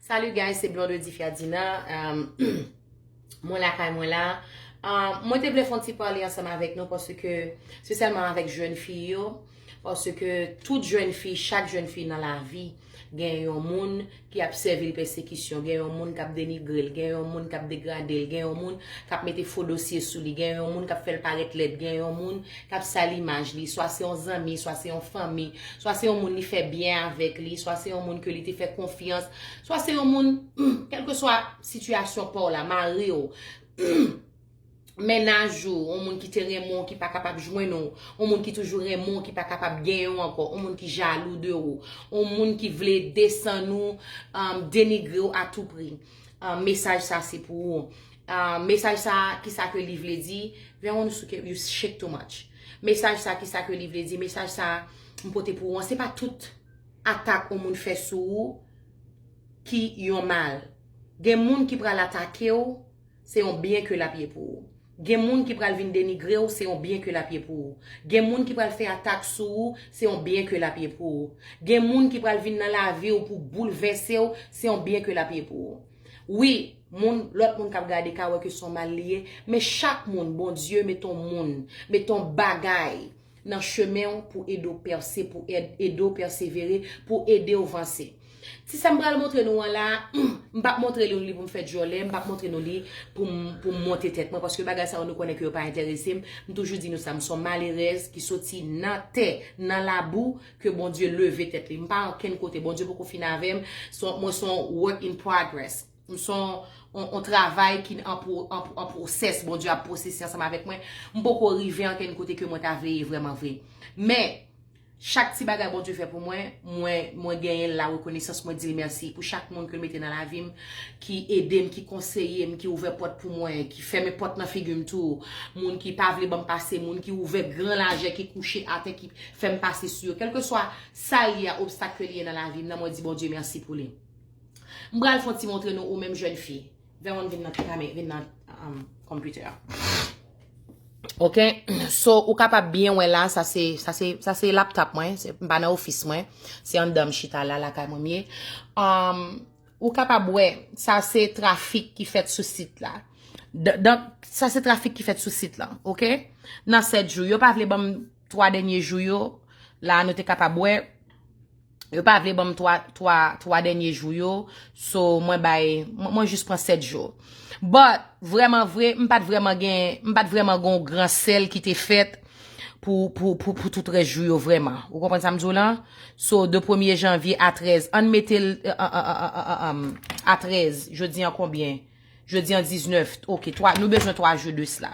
Salut guys, se Blonde Difia Dina. Mwen la kay mwen la. Mwen te vle fon ti pale ansanm avèk nou paske se selman avèk jèn fi yo, paske tout jèn fi, chak jèn fi nan lavi gen yon moun ki ap sèvi l pèsekisyon, gen yon moun kap denigre l, gen yon moun kap degrade l, gen yon moun kap mete fo dosye sou li, gen yon moun kap fè l parèt lèd, gen yon moun k ap sal imaj li, swa se yon zanmi, swa se yon fanmi, swa se yon moun li fè byen avèk li, swa se yon moun ke li te fè konfyans, swa se yon moun, kèlkeswa sitiyasyon pa w la, mari w, mennaj ou, yon moun ki te renmen w ki pa kapab jwenn ou, yon moun ki toujou renmen w ki pa kapab genyen w ankò, yon moun ki jalou de ou, yon moun ki vle desann ou, denigre w a tou pri, mesaj sa se pou ou. Mesaj sa a kisa ke li vle di, Veronosuke you shake too much Mesaj sa a kisa ke li vle di, mesaj sa a m pote pou ou an se pa tout atak yon moun fè sou ou ki yon mal gen moun ki pral atake ou se yon byen ke l ap ye pou ou gen moun ki pral vin denigre ou se yon byen ke l ap ye pou ou gen moun ki pral fè atak sou ou se yon byen ke l ap ye pou ou gen moun ki pral vin nan lavi ou pou boulvèse ou se yon byen ke l ap ye pou ou. Wi, moun, lòt moun k ap gade ka wè ke s on mal li ye, men chak moun, Bondye mete on moun, mete on bagay nan chemen ou pou ede ou pèse, pou ede ou pèsevere, pou ede ou vanse. Ti sa m pral montre nou an la a, m p ap montre nou li pou m fè dyòlè, m p ap montre nou li pou m pou m monte tèt mwen, paske bagay sa yo nou konnen ke yo pa enterese m. M toujou di nou sa, m s on malerèz ki soti nan tè, nan labou, Ke Bondye leve tèt li. M pa ankenn kote. Bondye poko fin avè m. Mwen son work in progress. M son on travay ki an pwosès. Bondye ap pwosese ansanm avèk mwen. M poko rive ankenn kote ke mwen ta vle ye vreman vre. Men, chak ti bagay Bondye fè pou mwen, mwen genyen la rekonesans. Mwen di l mèsi pou chak moun ke l mete nan lavi m. Ki ede m, ki konseye m, ki ouvè pòt pou mwen, ki fèmen pòt nan figi m tou. Moun ki pa vle ban m pase, moun ki ouvè gran lajè, ki kouche atè, fèm pase sou yo kelkeswa sal ye a obstak ke li ye nan lavim nan mwen di Bondye merci pou li m pral fon ti montre nou ou menm jèn fi Veronne vin nan kame vin nan computer a ok so ou kapab byen wè la sa se sa se sa se laptop mwen m pa nan office mwen se anndan m chita la lakay mwen m ye am ou kapab wè sa se trafik ki fèt sou sit la dan sa se trafik ki fèt sou sit la ok nan 7 jou yo pa vle banm. 3 dènye jou yo, la nou te kapab wè, yo pa vle banm 3 dènye jou yo, so mwen bay, mwen jis pran 7 jou. But, vreman vre, m pat vreman gen, m pat vreman gon gran sèl ki te fèt pou, pou, pou, pou tout rès jou yo vreman. Ou konprann sa m di w lan? So, de premye janvye a 13, ann mete l, an, an, an, an, an, an, a 13, jodi an konbyen? Jodi an 19, ok, 3, nou bezwen 3 jou de sla.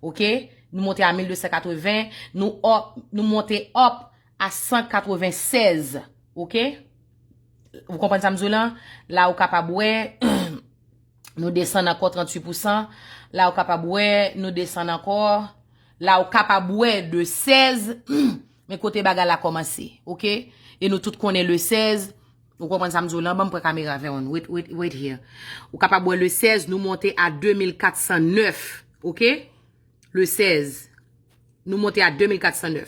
Ok, nou monte a 1280, nou up, nou monte up a 196. Ok, ou konprann sa m di w lan? La ou kapab wè, nou desann ankò 38 pousan. La ou kapab wè, nou desann ankò. La ou kapab wè de 16. Men kote bagay la komanse ok e nou tout konnen le 16 ou konprann sa m di w lan ban m pran kamera avè w wait here ou kapab wè le 16 nou monte a 2409 ok le 16 nou monte a 2409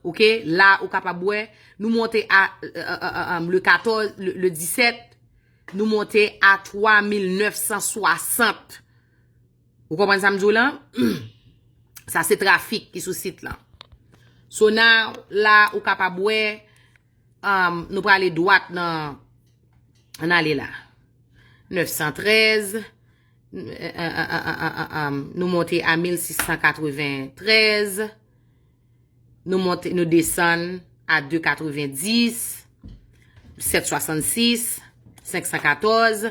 ok la ou kapab wè nou monte a le 14 le 17 nou monte a 3960 Ou konprann sa m di w lan? Sa se trafik ki sou sit lan. So now, la ou kapab wè, um, nou prale dwat nan, an ale la. 913, um, nou monte a 1693, nou monte, nou desann a 290, 766, 514,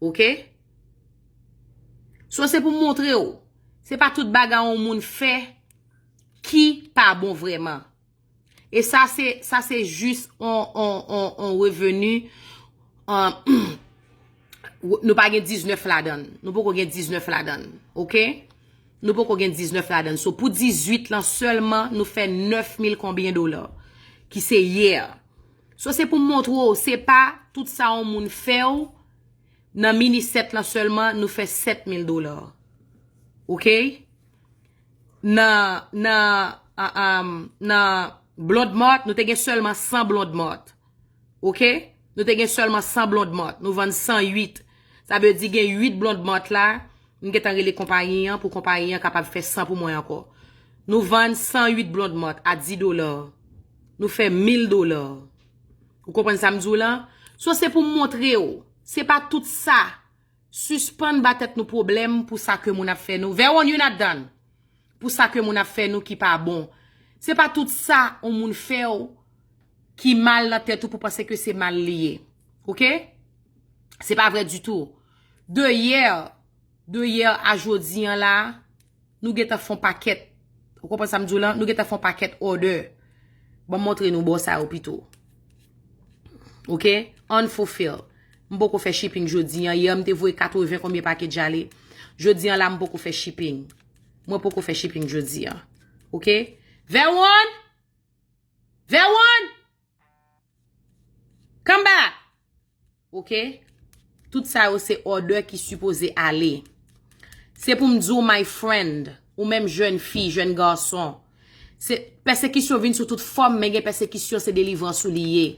Ok So se pou montre w Se pa tout bagay yon moun fè Ki pa bon vreman E sa se Sa se jis yon reveni Nou pa gen 19 ladan Nou poko gen 19 ladan Ok Nou poko gen 19 ladan So pou 18 lan selman nou fè 9000 konbyen dola Ki se yè So se pou montre w se pa tout sa yon moun fè w nan minisèt lan sèlman nou fè 7000 dola. Ok? Nan nan nan blond mart nou te gen sèlman 100 blond mart. Ok? Nou te gen sèlman 100 blond mart. Nou vann 108. Sa vle di gen 8 blond mart la. M gentan rele konpayi an pou konpayi an kapab fè 100 pou mwen ankò. Nou vann 108 blond mart a 10 dola. Nou fè mil dola. Ou konprann sa m di w la? So se pou m montre w, se pa tout sa. Sispann ba tèt nou pwoblèm pou sa ke moun ap fè nou. Veronne, you not done. Pou sa ke moun ap fè nou ki pa bon. Se pa tout sa yon moun fè w ki mal nan tèt ou pou panse ke se mal li ye. Ok? Se pa vre ditou. De hier, de hier a jodi an la, Nou gentan fon pakèt. Ou konprann sa m di w lan? Nou gentan fon pakèt òdè. Ban m montre nou bò sa yo pito. Ok? Unfulfilled. M poko fè shipping jodi an. Yè m te voye 80 konbyen package ale. Jodi an la m poko fè shipping. Mwen poko fè shipping jodi an. Ok? Verwan! Verwan! Come back! Ok tout sa yo se order ki sipoze ale se pou m di w my friend ou menm jèn fi jèn garçon se pèsekisyon vin sou tout fòm men gen pèsekisyon se delivrans ou li ye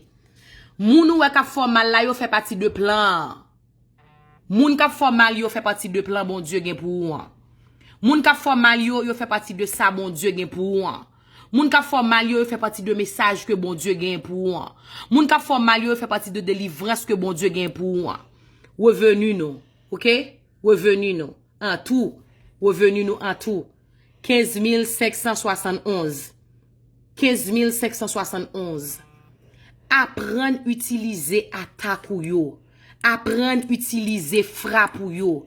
moun ou wè k ap fè w mal la yo fè pati de plan an moun k ap fè w mal yo fè pati de plan Bondye gen pou ou an moun k ap fè w mal yo yo fè pati de sa Bondye gen pou ou an. Moun kap fè w mal yo yo fè pati de mesaj ke Bondye genyen pou ou an. Moun kap fè w mal yo yo fè pati de delivrans ke Bondye genyen pou ou an. Revenu nou. Ok? Revenu nou. An tou. Revenu nou an tou. 15571. 15571. Aprann itilize atak ou yo. Aprann itilize frap ou yo.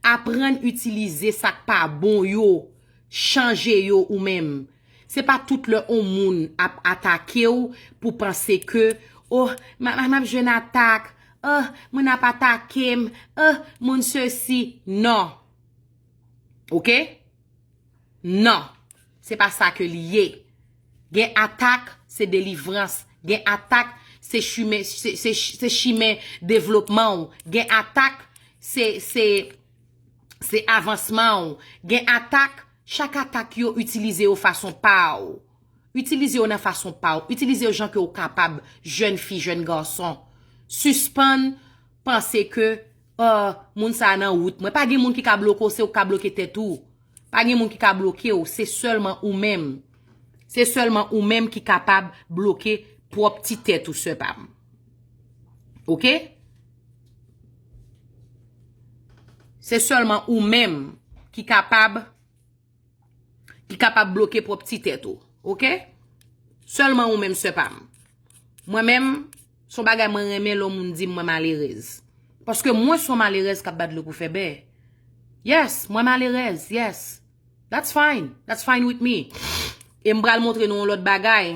Aprann itilize sak pa bon yo. Chanje yo ou menm. Se pa tout lè on moun ap atake w pou panse ke oh m ap jwenn atak, oh moun ap atake m, oh moun sesi. Non. Ok? Non. Se pa sa ke li ye. Gen atak se delivrans. Gen atak se chimen, se chimen devlopman w. Gen atak se, se. Se avansman w gen atak chak atak yo itilize yo fason pa w itilize yo nan fason pa w itilize yo jan ke w kapab jèn fi jèn gason sispann panse ke oh moun sa nan wout mwen pa gen moun ki ka bloke w se ou ki ka bloke tèt ou pa gen moun ki ka bloke w se sèlman ou menm se sèlman ou menm ki kapab bloke pwòp ti tèt ou sè pa m ok. Se sèlman ou menm ki kapab bloke pwòp ti tèt ou. Ok? Sèlman ou menm sè pa m. Mwen menm, son bagay mwen renmen lè yon moun di mwen malerèz. Paske mwen son malerèz kap bat dlo pou fè bè. Yes, mwen malerèz. Yes. That's fine. That's fine with me. E m pral montre nou yon lòt bagay.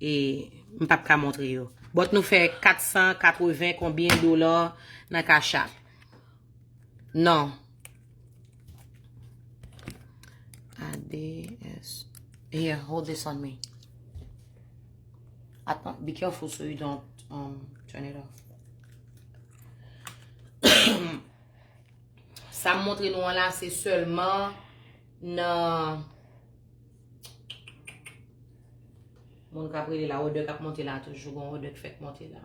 E m pap ka montre yo. Bòt nou fè 480 konbyen dola nan cash app. Non. ADS. Here, hold this on me. Atman, be careful so you don't um, turn it off. Sa m montre nou an la se sèlman nan Moun kap rele la odè kap monte la toujou gon odè k fèk monte la.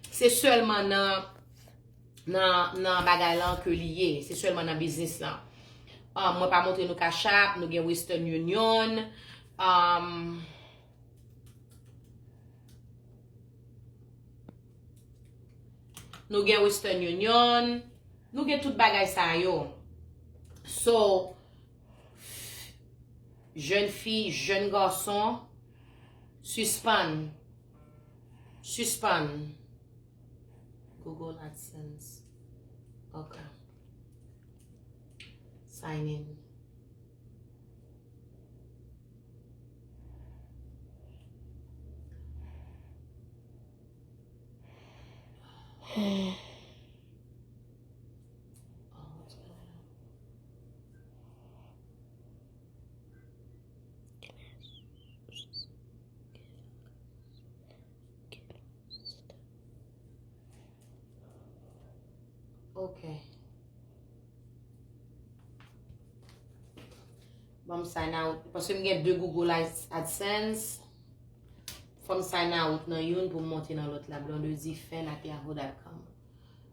Se sèlman nan nan bagay lan ke li ye. Se sèlman nan biznis lan. Ah, mwen pa montre nou kachap, nou gen western union. Ah... Nou gen western union. Nou gen tout bagay sa yo. So... Jèn fi, jèn gason, sispann, sispann, Google AdSense, ok, sign in. Ok. Bon, m sign out. Paske m gen 2 Google AdSense. Fò m sign out nan youn pou m monte nan lòt la. Blondedy Fen ak yahoo.com.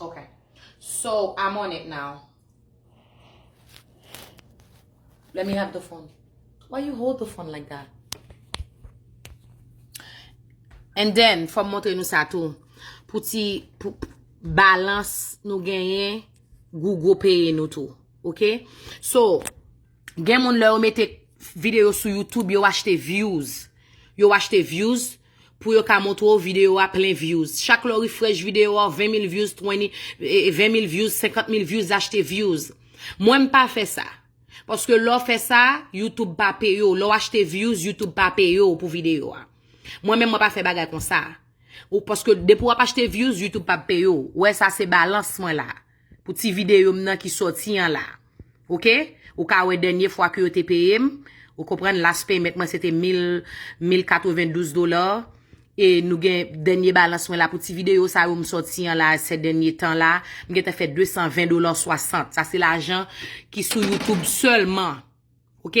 Ok. So, I'm on it now. Let me have the phone. Why you hold the phone like that? And then, fò m montre nou sa tou. Pou ti balans nou genyen, gou gou peye nou tou. Ok? So, Gen moun lè yo mete video sou youtube yo achte views. Yo achte views pou yo ka montre w video a plen views. Chak lè w refresh video a w 20 mil views, 20 mil views, 50 mil views achte views. Mwen m pa fè sa. Paske lè w fè sa, youtube pa peye w. Lè w achte views, youtube pa peye w pou video a. Mwen menm mwen pa fè bagay konsa. Paske depi w ap achte views, youtube pa peye w. Ou wè sa se balans mwen la. Pou ti video m nan ki soti an la. Ok? Ou ka wè dènye fwa ke yo te peye m. Ou konprann? Last payment mwen se te 1092 dolar. E nou gen dènye balans mwen la pou ti video sa yo m soti an la se dènye tan la. M gentan fè 220 dolar 60. Sa se lajan ki sou YouTube sèlman. Ok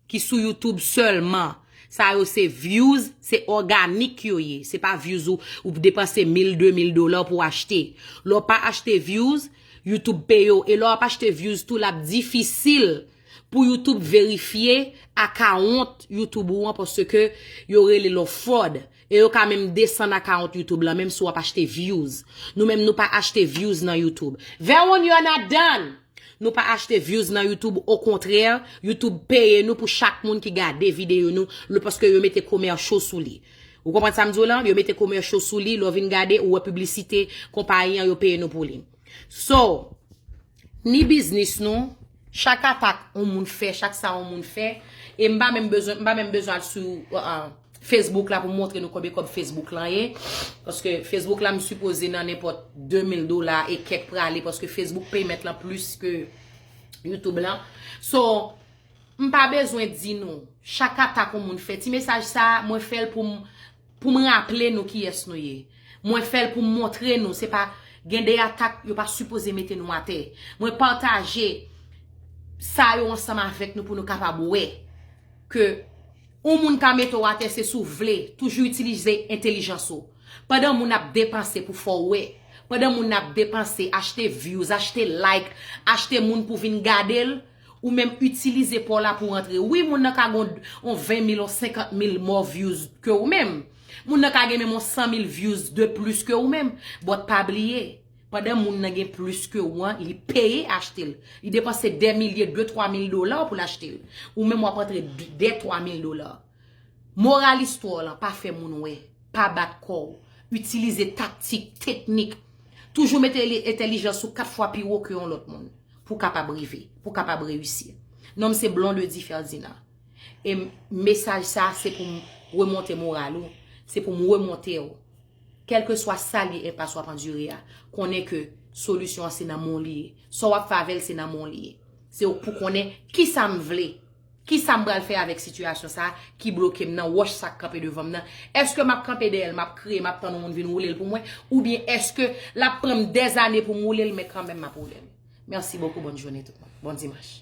ki sou youtube selman sa yo se views se organik yo ye se pa views ou ou depanse mil de mil dola pou achte lè w pa achte views youtube peye w e lè w ap achte views tou l ap difisil pou youtube verifye akawont youtube ou an paske yo rele l ou fwod E yo ka menm desann account YouTube lan menm si wap achte views. Nou menm nou pa achte views nan YouTube. Veronne you're not done! Nou pa achte views nan YouTube au contraire YouTube peye nou pou chak moun ki gade video nou le paske yo mete commercial sou li. Ou konprann sam diw lan? Yo mete commercial sou li lè w vin gade ou wè publicité konpayi an yo peye nou pou li. So, ni biznis nou, chak atak yon moun fè, chak sa yon moun fè, e m pa menm bezwen, m pa menm bezwen al sou Facebook la pou m montre nou konbyen kòb Facebook lan ye, paske Facebook la m sipoze nan nenpòt 2000 dola e kèk prale, paske Facebook payment lan plis ke YouTube lan. So, m pa bezwen di nou, chak atak yon moun fè, ti mesaj sa, mwen fè l pou m, Pou m raple nou kiyès nou ye. Mwen fè l pou m montre nou se pa gen de atak yo pa sipoze mete nou atè. Mwen pataje sa yo ansanm avèk nou pou nou kapab wè ke yon moun ka mete w atè se si w vle toujou itilize entelijans ou. Pandan moun ap depanse pou fè w wè, pandan moun ap depanse achte vyouz, achte like, achte moun pou vin gade l, Ou menm itilize paw la pou antre. Wi moun nan ka gon on 20 mil, on 50 mil mò vyouz ke ou menm. Moun nan ka gen menm on 100 mil vyouz de plis ke ou menm. But pa bliye, pandan moun nan gen plis ke ou an, li peye achte l. Li depanse dè milye, de twa mil dola pou l achte l. Ou menm wap antre dè twa mil dola. Moral istwa w lan, pa fè moun wè. Pa bat kò w. Itilize taktik, teknik. Toujou mete entelijans ou 4 fwa pi wo ke yon lòt moun. pou kapab rive, pou kapab reyisi. Non m se Blondedy Ferdinand. E mesaj sa se pou m remonte moral ou, se pou m remonte ou. Kelke swa sa li enpas w ap andire a, konnen ke solisyon an se nan men w li ye. Sa w ap fè avè l se nan men w li ye. Se ou k pou konnen kisa m vle. Kisa m pral fè avèk sitiyasyon sa a ki bloke m nan, wòch sa k kanpe devan m nan? Èske m ap kanpe dèyè l, m ap kriye, m ap tann yon moun vin woule l pou mwen? Oubyen èske l ap pran m dèzane pou m woule l, men kanmenm m ap woule l? Mèsi bokou, bòn jounen tout moun. Bon dimanch.